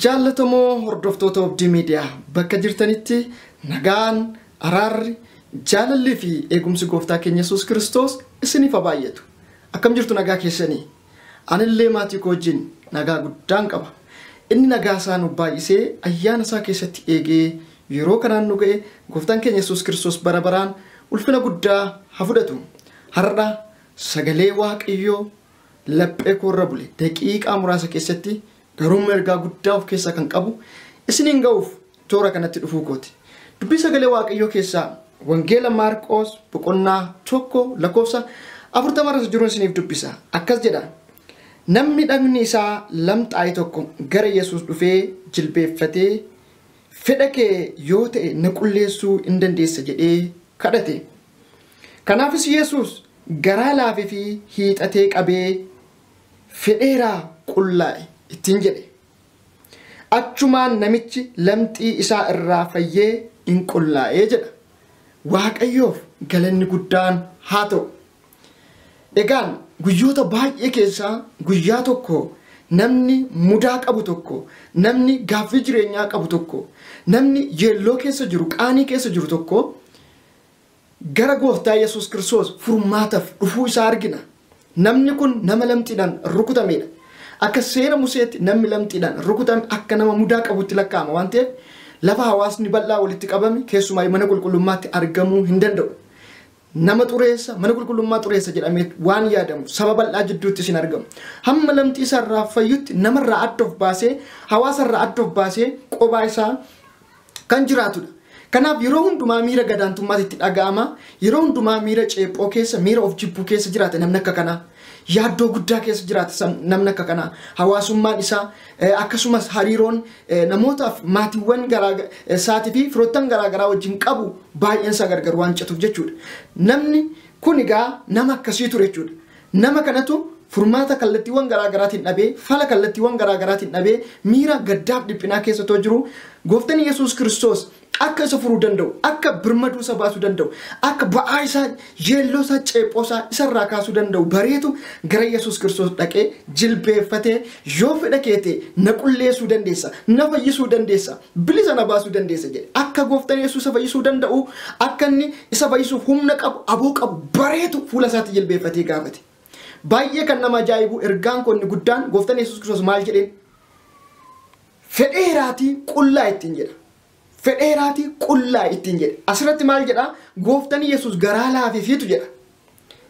Jaallatamoo hordoftoota Obdii Miidiyaa bakka jirtanitti nagaan, araarri, jaalallii fi eegumsi gooftaa keenya Yesuus Kiristoos isiniif haa baay'atu. Akkam jirtu nagaa keessanii? Anillee maatii koo wajjin nagaa guddaan qaba. Inni nagaa isaa nuuf baay'isee ayyaana isaa keessatti eegee yeroo kanaan nu ga'e Gooftaan keenya Yesuus Kiristoos bara baraan ulfina guddaa haa fudhatu. Har'a sagalee Waaqayyoo laphee koo irra bule daqiiqaa muraasa keessatti garuummoo ergaa guddaa of keessaa kan qabu isiniin ga'uuf toora kanatti dhufuu kooti. Dubbii sagalee Waaqayyoo keessaa Wangeela Maarqoos boqonnaa tokko lakkoofsa afurtama irra jiruun isiniif dubbisa. Akkas jedha. Namni dhagni isaa lamxaa'e tokko gara Yesuus dhufee jilbeeffatee fedha kee yoo ta'e na qulleessuu hin dandeessa jedhee kadhate. Kanaafis Yesuus garaa laafee fi hiixatee qabee fedheeraa qullaa'e ittiin jedhe. Achumaan namichi lamxii isaa irraa fayyee in qullaa'e jedha. Waaqayyoof galanni guddaan haa ta'u! Egaan guyyoota baay'ee keessaa guyyaa tokko namni mudaa qabu tokko, namni gaaffii jireenyaa qabu tokko, namni yeelloo keessa jiru, qaanii keessa jiru tokko Gara Gooftaa Yesuus Kiristoos furmaataf dhufuu isaa argina. Namni kun nama lamxiidhaan rukutameedha. Akka seera Museetti namni lamxiidhaan rukutame akka nama mudaa qabutti lakkaa'ama waan ta'eef lafa hawaasni bal'aa walitti qabame keessumaayyu mana qulqullummaatti argamuu hin danda'u. Nama xureessa, mana qulqullummaa xureessa jedhamee waan yaadamu saba bal'aa jidduuttis hin argamu. Hamma lamxii isaarraa fayyutti namarraa adda of baasee, hawaasarraa adda of baasee qobaa isaa kan jiraatudha. Kanaaf yeroo hundumaa miira gadaantummaatu itti dhaga'ama. Yeroo hundumaa miira ceephoo keessa, miira of jibbuu keessa jiraata namni akka kanaa. Yaaddoo guddaa keessa jiraata sam- namni akka kanaa. Hawaasummaan isaa eh, akkasumas hariiroon eh, namootaaf maatiiwwan garaa eh, isaatii fi firoottan garaa garaa wajjin qabu baay'een isaa gargar waan cituuf jechuudha. Namni kun egaa nama akkasii ture jechuudha. Nama kanatu furmaata kallattiiwwan garaa garaatiin dhabee, fala kallattiiwwan garaa garaatiin dhabee, miira gaddaaf dhiphinaa keessa otoo jiruu, Gooftan Yesuus Kiristoos akka isa furuu danda'u, akka birmaduu isa baasuu danda'u, akka ba'aa isaa, yeelloo isaa, ceephoo isaa isa irraa kaasuu danda'u bareetu gara Yesuus Kiristoos dhaqee jilbeeffatee, Yoo fedha kee ta'e na qulleessuu dandeessa, na fayyisuu dandeessa, bilisa na baasuu dandeessa jedhe. Akka gooftan Yesuus isa fayyisuu danda'u, akka inni isa fayyisuuf humna qabu, aboo qabu bareetu fuula isaatti jilbeeffatee gaafate. Baay'ee kan nama ajaa'ibu ergaan koo inni guddaan gooftan Yesuus Kiristoos maal jedheen? Fedheeraatii qullaa ittiin jedha. Fedheeraatii qullaa ittiin jedhe. Asirratti maal jedha? Gooftan Yesuus garaa laafeefiitu jedha.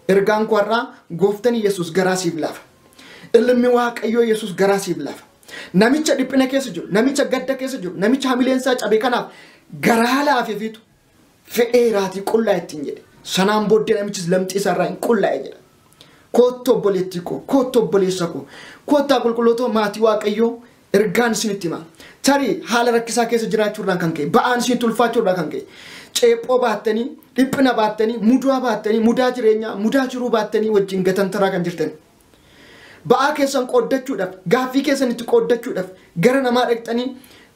Ergaan koo har'aa gooftan Yesuus garaa siif laafa. Ilmi Waaqayyoo Yesuus garaa siif laafa. Namicha dhiphina keessa jiru, namicha gadda keessa jiru, namicha hamileen isaa cabe kanaaf garaa laafeefiitu fedheeraatii qullaa ittiin jedhe. Sanaan booddee namichis lamxii isaarraa hin qullaa'e jedha. Koottu obboleettii koo, koottu obboleessa koo, koottaa qulqullootoo maatii waaqayyoo ergaan isinitti hima. Tarii haala rakkisaa keessa jiraachuu irraan kan ka'e, ba'aan isinitti ulfaachuu irraa kan ka'e, ceephoo baattanii, dhiphina baattanii, mudaa baattanii, mudaa jireenyaa, mudaa jiruu baattanii wajjin gatantaraa kan jirtan Ba'aa keessan qooddachuudhaf, gaaffii keessan itti qooddachuudhaf gara namaa dhaqxanii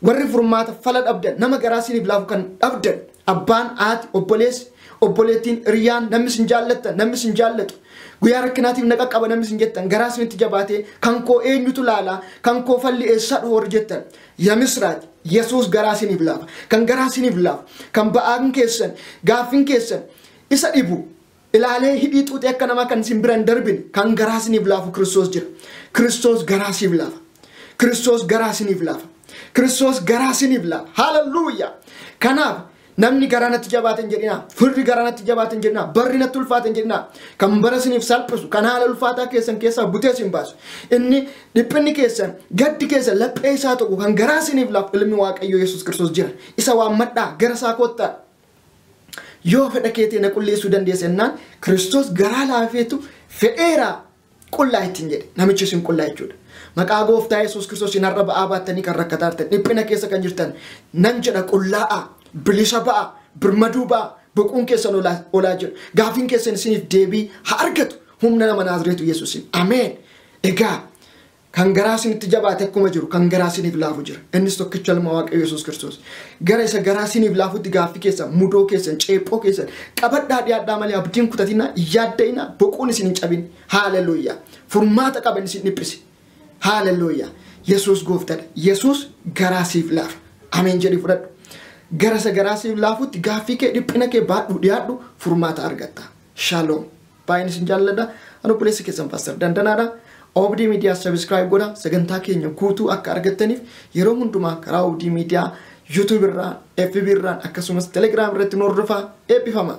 warri furmaata, fala dhabdan, nama garaa siinif laafu kan dhabdan, abbaan, haati, obboleessi, obboleettiin, hiriyyaan, namni isin jaallattan, namni isin jaallatu, guyyaa rakkinaatiif na qaqqaba namni isin jettan, garaa isinitti jabaatee, kan koo eenyutu laala, kan koo falli eessaa dhufa warri jettan, yamisraach, Yesuus garaa siinif laafa. Kan garaa siinif laafu, kan ba'aan keessan, gaaffin keessan isa dhibu, ilaalee hidhii xuuxee akka namaa kan isin bira hin darbine kan garaa isiniif laafu Kiristoos jira. Kiristoos garaa siif laafa. Kiristoos garaa isiniif laafa. Kiristoos garaa isiniif laafa. Haalelluuyaa! Kanaaf namni garaa natti jabaate hin jedhinaa. Firri garaa natti jabaate hin jedhinaa. Barri natti ulfaate hin jedhinaa. Kan bara isiniif salphisu, kan haala ulfaataa keessan keessaa butee isin baasu. Inni dhiphinni keessan, gaddi keessan laphee isaa tokko kan garaa isiniif laafu ilmi Waaqayyoo Yesuus Kiristoos jira. Isa waammadhaa gara isaa koottaa. Yoo fedha kee ta'e na qulleessuu dandeessa jennaan Kiristoos garaa laafeetu fedheera qullaa ittiin jedhe. Namichi isin qullaa jechuudha. Maqaa gooftaa Yesuus Kiristoos hin har'a ba'aa baattanii kan rakkataa jirtan dhiphina keessa kan jirtan nan jedha qullaa'a bilisa ba'a birmaduu ba'a boquun keessan olaa olaa jedhu gaafiin keessan isiniif deebii haa argatu humna nama naazreetu Yesuusin. Ameen. Egaa Kan garaa sinitti jabaate akkuma jiru kan garaa siniif laafu jira. Innis tokkicha ilma Waaqayyo Yesuus Kiristoos. Gara isa garaa siniif laafutti gaaffii keessan, mudoo keessan, ceephoo keessan qabadhaa dhiyaadhaa malee abdiin kutatinaa, yaadda'inaa, boquun isin hin cabin. Haaleluyyaa. Furmaata qaban isin dhiphise. Haaleluyyaa. Yesuus gooftadha. Yesuus garaa siif laafa. Ameen jedhi fudhadhu. Gara isa garaa siif laafutti gaaffii kee dhiphina kee baadhu dhiyaadhu furmaata argatta. Shaaloom. Baay'een isin jaalladha. Ani obboleessa keessan Paaster Dandanaadha. Obdii Miidiyaa Sabiskiraayib godha. Sagantaa keenya guutuu akka argattaniif yeroo hundumaa karaa Obdii Miidiyaa YouTube irraa, FB irraa akkasumas Telegram irratti nu hordofaa eebbifama.